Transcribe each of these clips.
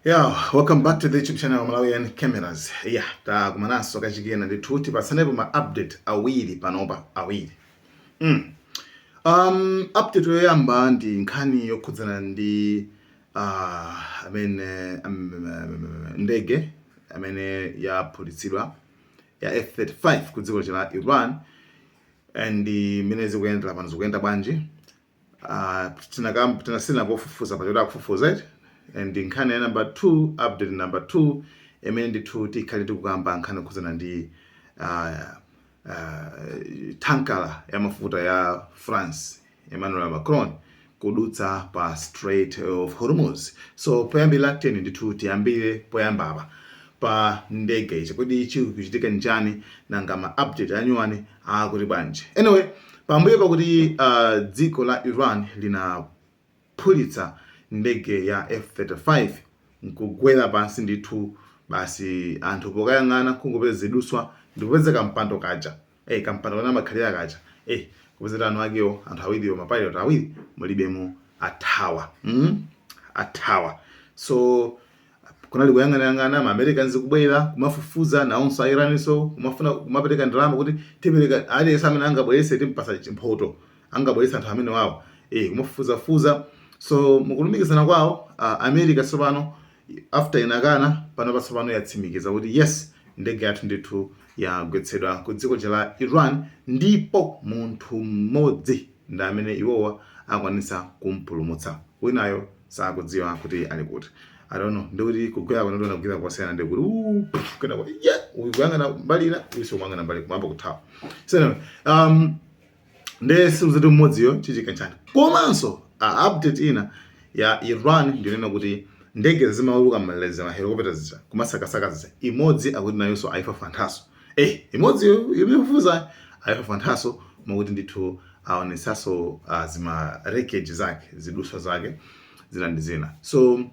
Yeah, welcome back to the YouTube channel Malawian Cameras. Yeah, takumananso kachikena ndithuti patsanepo ma update awiri panopa awiri. Mm. Um, update yoyamba ndi nkhani yokhudzana ndi uh, amene um, um, ndege amene yaphulitsidwa ya F35 ku dziko la Iran and imene zikuyendera pano zikuyenda bwanji Ah, tinakam- tina- sitinangofufuza pa choti akufufuza eti and nkhani ya number 2 update number 2 imene ndithu tikhale tikukamba nkhani yokhudzana ndi ah, ah, tankala ya mafuta ya france emmanuel macron kudutsa pa strait of hormuz so poyambira tiyeni ndithu tiyambire poyambapa pa ndege ichi kodi chikuchitika n'chani nanga ma update anyuwani akuti bwanji? Anyway, pambuyo pakuti uh, dziko la Iran linaphulitsa ndege ya F35 nkugwera pansi ndithu, basi anthu pokayang'ana kungopeza ziduswa ndikupeza kampando kaja eh, kampando kanamakhalira kaja eh, kupeza eni akewo anthu awiriwo mapilot awiri mulibemo athawa mm? athawa so Kunali kuyang'anayang'ana ma Americans kubwera kumafufuza nawonso a Iranso kumafuna kumapereka ndalama kuti tipereka aliyense amene angabweretse timpatsa mphoto angabweretse anthu amene wawo eh kumafufuzafufuza so mukulumikizana kwawo ah, America tsopano after inakana panopa tsopano yatsimikiza kuti yes ndege yathu ndithu yagwetsedwa ku dziko la Iran ndipo munthu mmodzi ndi amene iwowa akwanitsa kumpulumutsa winayo sakudziwa kuti ali kuti I don't know ndikuti kugwera kwanu ndona kugwera kwasiyana ndi kuti uu pff, kena kuti yeah uyu kuyang'ana mbali ina uyu sikumang'ana mbali kuyamba kuthawa so anyway, um, ndiye sikudziwika kuti mmodziyo chichikanchana komanso update ina ya iran ndi yonena kuti ndege zimauluka m'malere ma helikopita zija kumasakasaka zija imodzi akuti nayonso ayifafanthanso Eh, imodzi yomufufuza ayifafanthanso koma kuti ndithu aonetsanso uh, zima wreckage zake ziduswa zake zina ndi zina so uh,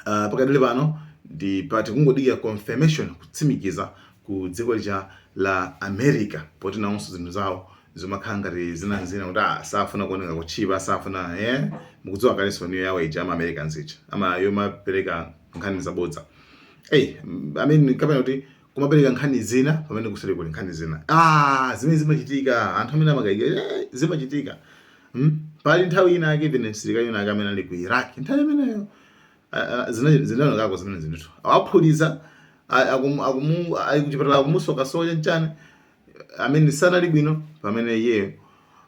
pakadali pano ndi poti kungodikira confirmation kutsimikiza ku dziko lija la America poti nawonso zinthu zawo zomakhala ngati zina zina kuti ah, safuna kuoneka kutchipa safuna eh mukudziwa kalenso njira yawo ija ama Americans ija ama yomapereka nkhani zabodza hey, I mean, kapena kuti kumapereka nkhani zina pamene kuseri kuli nkhani zina ah, zimene zimachitika anthu amene amakayika eh, zimachitika hmm? pali nthawi ina yake even msilikali wina wake amene ali ku Iraq nthawi imeneyo uh, zinaonekako zimene zinthu awaphulitsa ali kuchipatala akumusokasoka nchani amene sanali bwino pamene iyeyo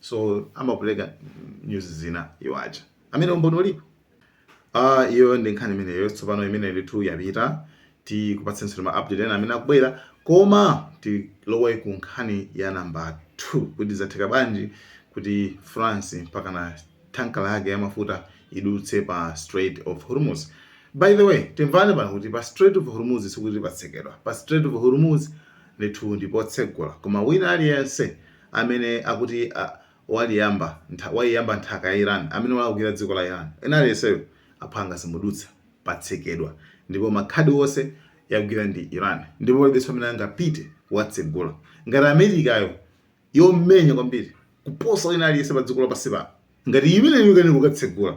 so amapereka news zina iwo aja amene umboni ulipo ah iyo ndi nkhani imeneyo tsopano imene ndithu yapita tikupatsenso ma update ena amene akubwera koma tilowe ku nkhani ya namba 2 kuti zatheka bwanji kuti france mpaka na tanka lake ya mafuta idutse pa strait of hormuz by the way timvane pano kuti pa strait of hormuz sikuti patsekedwa pa strait of hormuz ndithu ndipotsegula koma wina aliyense amene akuti a, waliyamba, ntha, waiyamba nthaka ya Iran, amene walakwira dziko la Iran, wina aliyenseyo aphwanga simudutsa, patsekedwa, ndipo makhadi onse yagwira ndi Iran, ndipo palibenso amene angapite kukatsegula, ngati America yo yomenya kwambiri kuposa wina aliyense padziko lapansi pano, ngati imeneyo ikanena kukatsegula,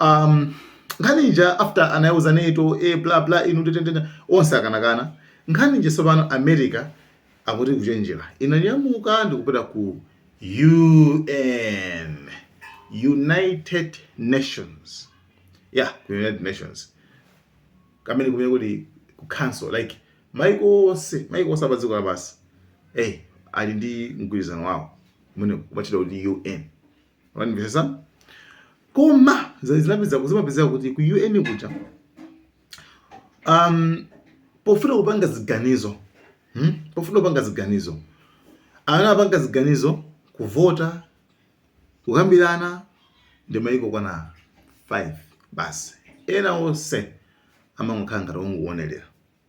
um nkhani ija after anayauza nato e eh, bla bla inu tetete onse anakana nkhani ija tsopano america akuti kuchenjera inanyamuka ndikupita ku un united nations ya yeah, united nations amene kumene kuti ku council like maiko onse maiko onse apadziko lapansi hey, eh, ali ndi mgwirizano wawo umene umatchedwa kuti un wandimvetsa koma zinapeza kuzimapezeka kuti ku UN kuja um, pofuna kupanga ziganizo hmm? pofuna kupanga ziganizo amapanga ziganizo kuvota kukambirana ndi maiko okwana 5 basi ena onse amangokhala ngati ongoonelera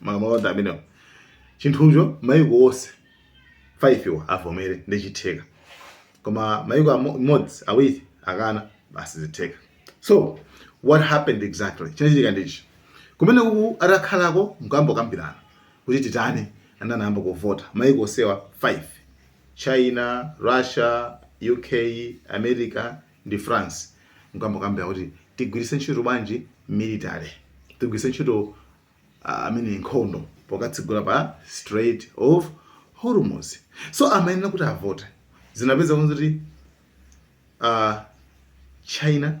malamulo onse amenewo chinthucho maiko onse 5 wa avomere ndi chotheka koma maiko amodzi awiri akana basi sizitheka so what happened exactly chinachitika ndichi kumene uku atakhalako nkuyamba kukambirana kuti titani anayamba kuvota maiko onsewa 5 china russia uk america ndi France nkuyamba kukambirana kuti tigwiritse ntchito bwanji military tigwiritse ntchito uh, I mean nkhondo pokatsegula pa Strait of Hormuz so amayenera kuti avote zinapezeka kuti uh, China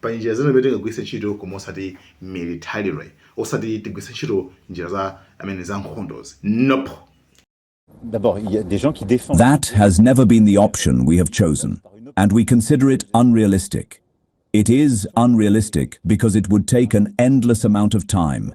Pali njira zina zimene tingagwiritse ntchito koma osati militarily. Osati tigwiritse ntchito njira za I mean za nkhondozi. Nope! That has never been the option we have chosen and we consider it unrealistic. It is unrealistic because it would take an endless amount of time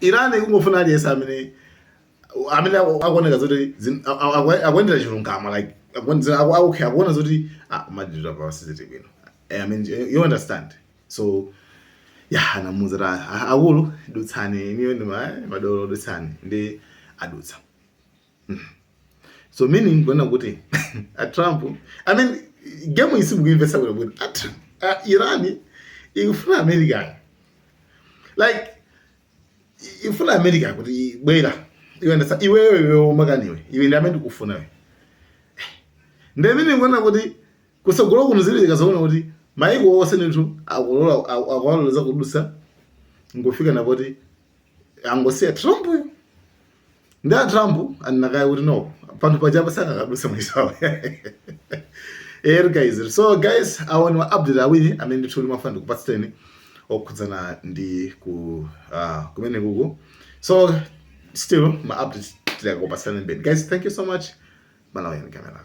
Iran ikungofuna aliyense amene amene aku- akuoneka zoti zin- a- a- aku- akuendera chilungamo like akuonera aku- aku- okay, akuona zoti ah, ma deal apa sizili bwino Eh, I mean, eh, you understand so ya anamuuza kuti "Ah, akulu dutsani inuyo ndi ma- madolo dutsani ndi adutsa so meaning kunena kuti a trump i mean game iyi simukuimvetsa bwino bwino a Trump- a iran ikufuna america like i- ifuna america kuti bwera iwe ndafuna iweyo iwe umakaniwe iwe ndi amene ndikufuna iwe ndi amene ndikuona kuti kusogolo kuno zili akazaona kuti maiko onse ndithu akulola aku- akuwaloleza kudusa ndi kufika napoti angosiya Trump uyu ndi a Trump anakaye kuti no panthu pajapa sanakaduse mwisawe er guys so guys awo ndiwo update awiri amene ndithu ndimafuna ndikupatseni okhudzana ndi ku uh, kumene kuku so still ma update tizikupatsani mbeni guys thank you so much malawi and camera